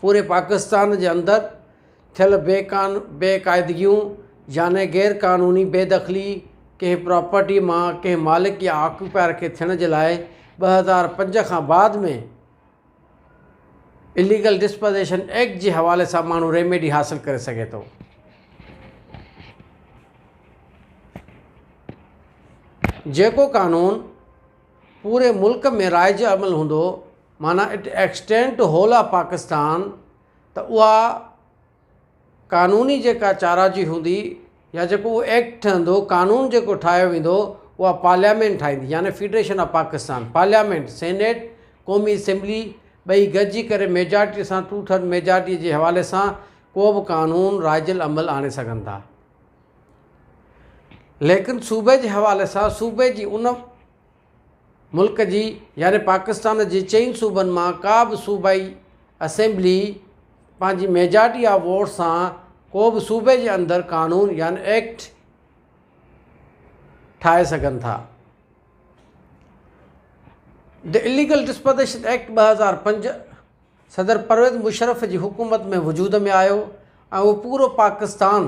پوري پاڪستان جي اندر ٿيل بي قان بي قاعدگيون يعني غير قانوني بي دخلي ڪنهن پراپرٽي مان ڪنهن مالڪ يا آڪيوپائر کي ٿيڻ جي لاء ٻه هزار پنج کان بعد ۾ اليگل ڊسپوزيشن ايڪٽ جي حوالي سان ماڻهو ريميڊي حاصل ڪري سگهي ٿو جيڪو قانون پوري ملڪ ۾ رائج عمل هوندو معنيٰ at extent whole of Pakistan ته اها قانوني جيڪا چاراجي هوندي يا جيڪو اهو ايڪٽ ٺهندو قانون جيڪو ٺاهيو ويندو اها پارليامينٽ ٺاهيندي يعني federation of Pakistan parliament senate قومي اسيمبلي ٻئي گڏجي ڪري ميجارٽي سان ٽو ٿرڊ ميجارٽي جي حوالي سان ڪو به قانون رائج العمل آڻي سگهن ٿا ليڪن صوبي جي حوالي سان صوبي جي ان ملڪ جي يعني پاڪستان جي چئن صوبن مان ڪا به صوبائي اسيمبلي پنهنجي ميجارٽي آف ووٽس سان ڪو به صوبي جي اندر قانون يعني ايڪٽ ٺاهي سگهن ٿا. The Illegal Disposition Act ٻه هزار پنج صدر پرويز مشرف جي حڪومت ۾ وجود ۾ آيو ۽ اهو پورو پاڪستان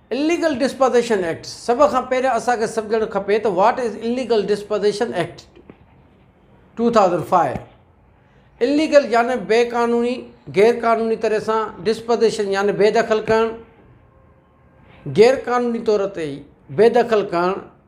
اليگل ڊسپازيشن ايڪٽ، سڀ کان پهريان اسان کي سمجهڻ کپي ته what is illegal ڊسپازيشن act two thousand five? Illegal يعني بي قانوني، غير قانوني طرح سان، ڊسپازيشن يعني بي دخل ڪرڻ، غير قانوني طور تي بي دخل ڪرڻ،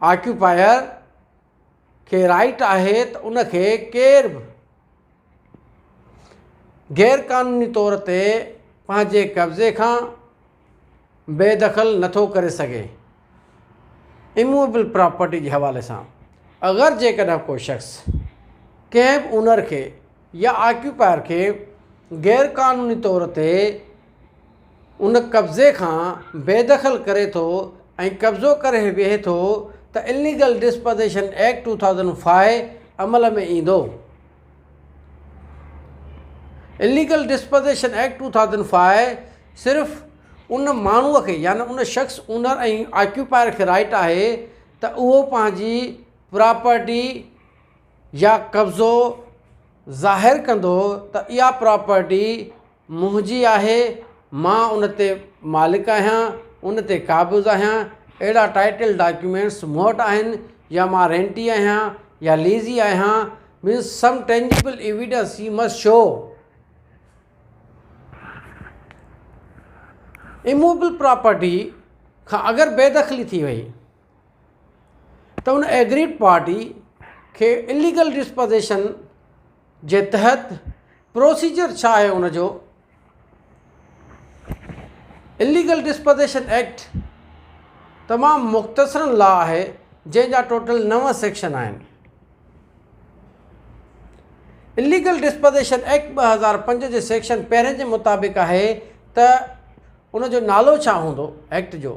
آڪيوپائر کي رائيٽ آهي ته ان کي ڪير به غير قانوني طور تي پنهنجي قبضي کان بي دخل نه ٿو ڪري سگهي. اموويبل پراپرٽي جي حوالي سان اگر جيڪڏهن ڪو شخص ڪنهن به اونر کي يا آڪيوپائر کي غير قانوني طور تي ان قبضي کان بي دخل ڪري ٿو ۽ قبضو ڪري ويهي ٿو ته illegal disposition act two thousand five عمل ۾ ايندو. Illegal disposition act two thousand five صرف ان ماڻهو کي يعني ان شخص اونر ۽ آڪيوپائر کي رائٽ آهي ته اهو پنهنجي پراپرٽي يا قبضو ظاهر ڪندو ته اها پراپرٽي منهنجي آهي مان ان تي مالڪ آهيان ان تي قابض آهيان اهڙا ٽائيٽل ڊاڪيومينٽس مون وٽ آهن يا مان رينٽي آهيان يا ليزي آهيان means some tangible evidence you must show immovable property کان اگر بيدخلي ٿي وئي ته ان ايگريڊ پارٽي کي اليگل ڊسپوزيشن جي تحت پروسيجر ڇا آهي ان جو اليگل ڊسپوزيشن ايڪٽ تمام مختصرن لا آهي جنهن جا ٽوٽل نو سيڪشن آهن اليگل ڊسپوزيشن ايڪٽ ٻه هزار پنج جي سيڪشن پهرين جي مطابق آهي ته ان جو نالو ڇا هوندو ايڪٽ جو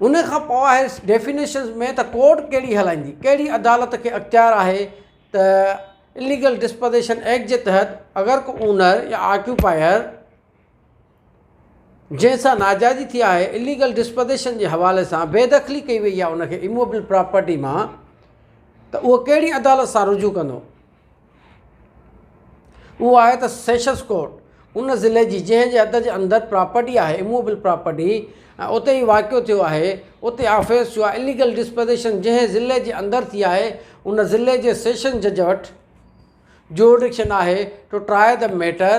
ان کان پوء آهي ڊيفينيشنز ۾ ته ڪورٽ ڪهڙي هلائيندي، ڪهڙي عدالت کي اختيار آهي ته اليگل ڊسپوزيشن ايڪٽ جي تحت اگر ڪو اونر يا آڪيوپائر جنهن سان ناجائزي ٿي آهي اليگل ڊسپوزيشن جي حوالي سان بي دخلي ڪئي وئي آهي ان کي اموبل پراپرٽي مان ته اهو ڪهڙي عدالت سان رجوع ڪندو. اهو آهي ته سيشنز ڪورٽ ان ضلعي جي جنهن جي حد جي اندر پراپرٽي آهي اموويبل پراپرٽي ۽ اتي هي واقعو ٿيو آهي اتي آفينس ٿيو آهي اليگل ڊسپوزيشن جنهن ضلعي جي اندر ٿي آهي ان ضلعي جي سيشن جج وٽ جورڊڪشن آهي ٽو ٽرائي دي ميٽر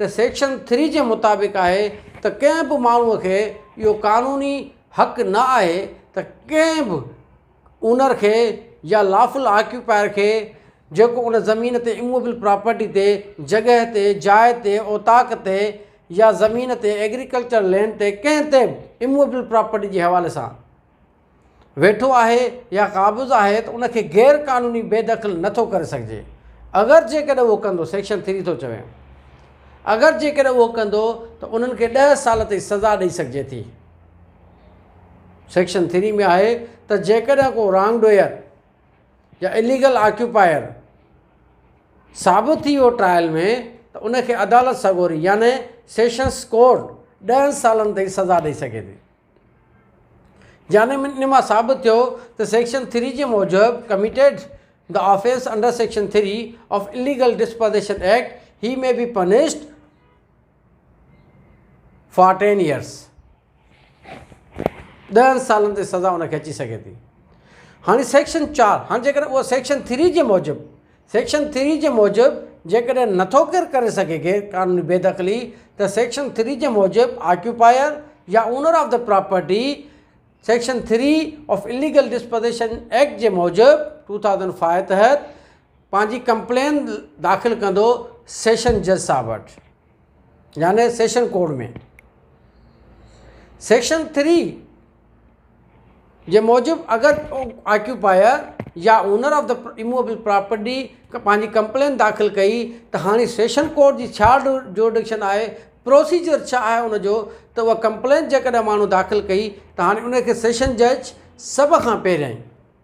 ته سيڪشن ٿري جي مطابق آهي ته ڪنهن به ماڻهو کي اهو قانوني حق نه آهي ته ڪنهن به اونر کي يا لافل آڪيوپائر کي جيڪو ان زمين تي اموويبل پراپرٽي تي جڳهه تي جاء تي اوطاق تي يا زمين تي ايگريڪلچر لينڊ تي ڪنهن تي به اموويبل پراپرٽي جي حوالي سان ويٺو آهي يا قابض آهي ته ان کي غير قانوني بي دخل نه ٿو ڪري سگهجي اگر جيڪڏهن اهو ڪندو سيڪشن ٿري ٿو چوي اگر جيڪڏهن اهو ڪندو ته انهن کي ڏهه سال تائين سزا ڏئي سگهجي ٿي سيڪشن ٿري ۾ آهي ته جيڪڏهن ڪو رانگ ڊوئر يا اليگل آڪيوپائر ثابت ٿي ويو ٽرائل ۾ ته ان کي عدالت سڳوري يعني سيشنس ڪورٽ ڏهن سالن تائين سزا ڏئي سگهي ٿي جانب ان مان ثابت ٿيو ته سيڪشن ٿري جي موجب committed the offence under section three of illegal ڊسپازيشن act he may be punished for ten years ڏهن سالن تي سزا ان کي اچي سگهي ٿي هاڻي سيڪشن چار هاڻي جيڪڏهن اهو سيڪشن ٿري جي موجب سيڪشن ٿري جي موجب جيڪڏهن نٿو ڪير ڪري سگهي غير قانوني بيدخلي ته سيڪشن ٿري جي موجب آڪيوپائر يا owner of the property section three of illegal disposition act جي موجب ٽو ٿائوزنڊ فائيو تحت پنهنجي ڪمپلين داخل ڪندو سيشن جج صاحب وٽ يعني سيشن ڪوڊ ۾ سيڪشن ٿري جي موجب اگر آڪيوپائر يا owner of the immovable property پنهنجي ڪمپلين داخل ڪئي ته هاڻي سيشن ڪوڊ جي ڇا جورڊڪشن آهي پروسيجر ڇا آهي ان جو ته اها ڪمپلين جيڪڏهن ماڻهو داخل ڪئي ته هاڻي ان کي سيشن جج سڀ کان پهريائين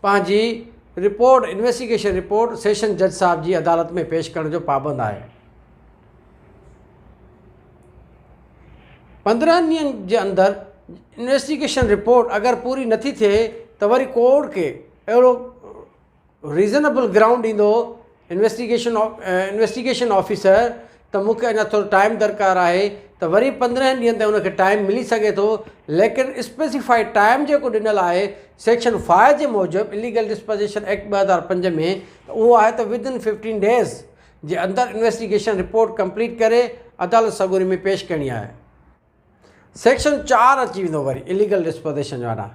پنهنجي رپورٽ، انويسٽيگيشن رپورٽ، سيشن جج صاحب جي عدالت ۾ پيش ڪرڻ جو پابند آهي. پندرهن ڏينهن جي اندر انويسٽيگيشن رپورٽ اگر پوري نٿي ٿئي ته وري ڪورٽ کي اهڙو ريزنيبل گرائونڊ ڏيندو انويسٽيگيشن انويسٽيگيشن آفيسر، ته مون کي اڃا ٿورو ٽائيم درڪار آهي ته وري پندرهن ڏينهن تائين ان کي ٽائيم ملي سگهي ٿو ليڪن اسپيسيفائيڊ ٽائيم جيڪو ڏنل آهي سيڪشن فائو جي موجب اليگل ڊسپوزيشن ايڪٽ ٻه هزار پنج ۾ ته اهو آهي ته ود ان ففٽين ڊيز جي اندر انويسٽيگيشن رپورٽ ڪمپليٽ ڪري عدالت سڳوري ۾ پيش ڪرڻي آهي سيڪشن چار اچي ويندو وري اليگل ڊسپوزيشن جو آرڊر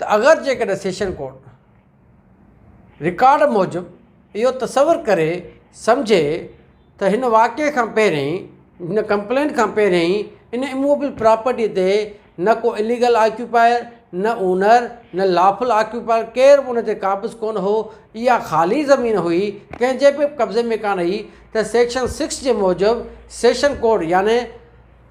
ته اگر جيڪڏهن سيشن ڪورٽ رڪارڊ موجب اهو تصور ڪري سمجهي ته هن واقعي کان پهرين هن ڪمپلينٽ کان پهرين ان اموبل پراپرٽي تي نه ڪو اليگل آڪيوپائر نه اونر نه لافل آڪيوپائر ڪير به ان تي قابض ڪونه هو اها خالي زمين هئي ڪنهن جي به قبضي ۾ ڪانه هئي ته سيڪشن سڪس جي موجب سيشن ڪورٽ يعني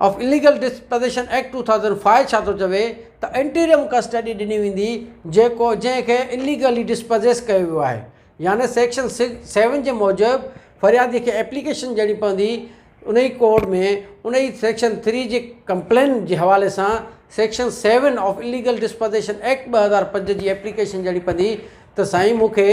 of illegal disposition act two thousand five ڇا ٿو چوي ته انٽيريم ڪسٽڊي ڏني ويندي جيڪو جنهن کي اليگلي ڊسپزيس ڪيو ويو آهي يعني سيڪشن سڪس سيون جي موجب فريادي کي ايپليڪيشن ڏيڻي پوندي انهي ڪورٽ ۾ انهي سيڪشن ٿري جي ڪمپلين جي حوالي سان section seven of illegal disposition act ٻه هزار پنج جي ايپليڪيشن ڏيڻي پوندي ته سائين مون کي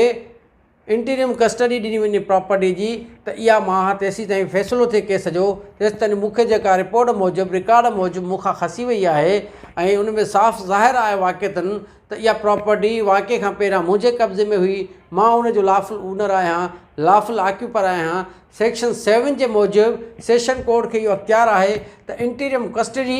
انٽريم ڪسٽڊي ڏني وڃي پراپرٽي جي ته اها ماهه تيسيتائين فيصلو ٿئي ڪيس جو تيستائين مون کي جيڪا رپورٽ موجب رڪارڊ موجب مون کان کسي وئي آهي ۽ ان ۾ صاف ظاهر آهي واقعتن ته اها پراپرٽي واقعي کان پهريان منهنجي قبضي ۾ هئي مان ان جو لافل اونر آهيان لافل آڪيوپر آهيان سيڪشن سيون جي موجب سيشن ڪورٽ کي اهو اختيار آهي ته انٽريم ڪسٽڊي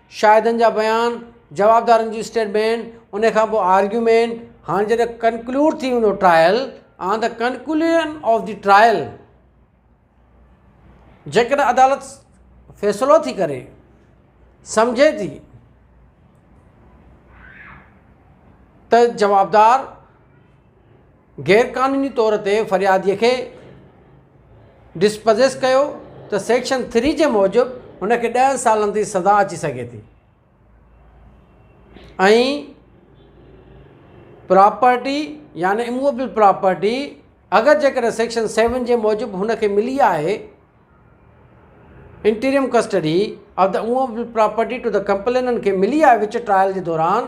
شاهدن جا بيان جوابدارن جي اسٽيٽمينٽ ان کان پوء آرگيومينٽ هاڻي جڏهن ڪنڪلوڊ ٿي ويندو trial on the conclusion of the trial جيڪڏهن عدالت فيصلو ٿي ڪري سمجهي ٿي ته جوابدار غيرقانوني طور تي فريادي کي ڊسپزيس ڪيو ته سيڪشن ٿري جي موجب هن کي ڏهن سالن تائين سزا اچي سگهي ٿي ۽ پراپرٽي يعني اموبل پراپرٽي اگر جيڪڏهن سيڪشن سيون جي موجب هن کي ملي آهي interim custody of the immovable property to the complainant کي ملي آهي وچ ٽرائل جي دوران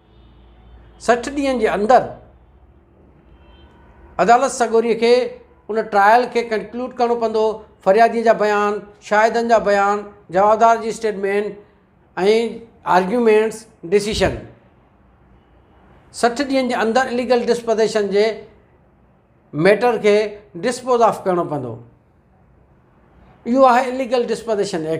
سٺ ڏينهن جي اندر عدالت سڳوري کي ان ٽرائل کي ڪنڪلوڊ ڪرڻو پوندو فريادي جا بيان شاهدن جا بيان جوابدار جي اسٽيٽمينٽ ۽ آرگيومينٽس ڊسيشن سٺ ڏينهن جي اندر اليگل ڊسپوزيشن جي ميٽر کي ڊسپوز آف ڪرڻو پوندو اهو آهي اليگل ڊسپوزيشن ايڪٽ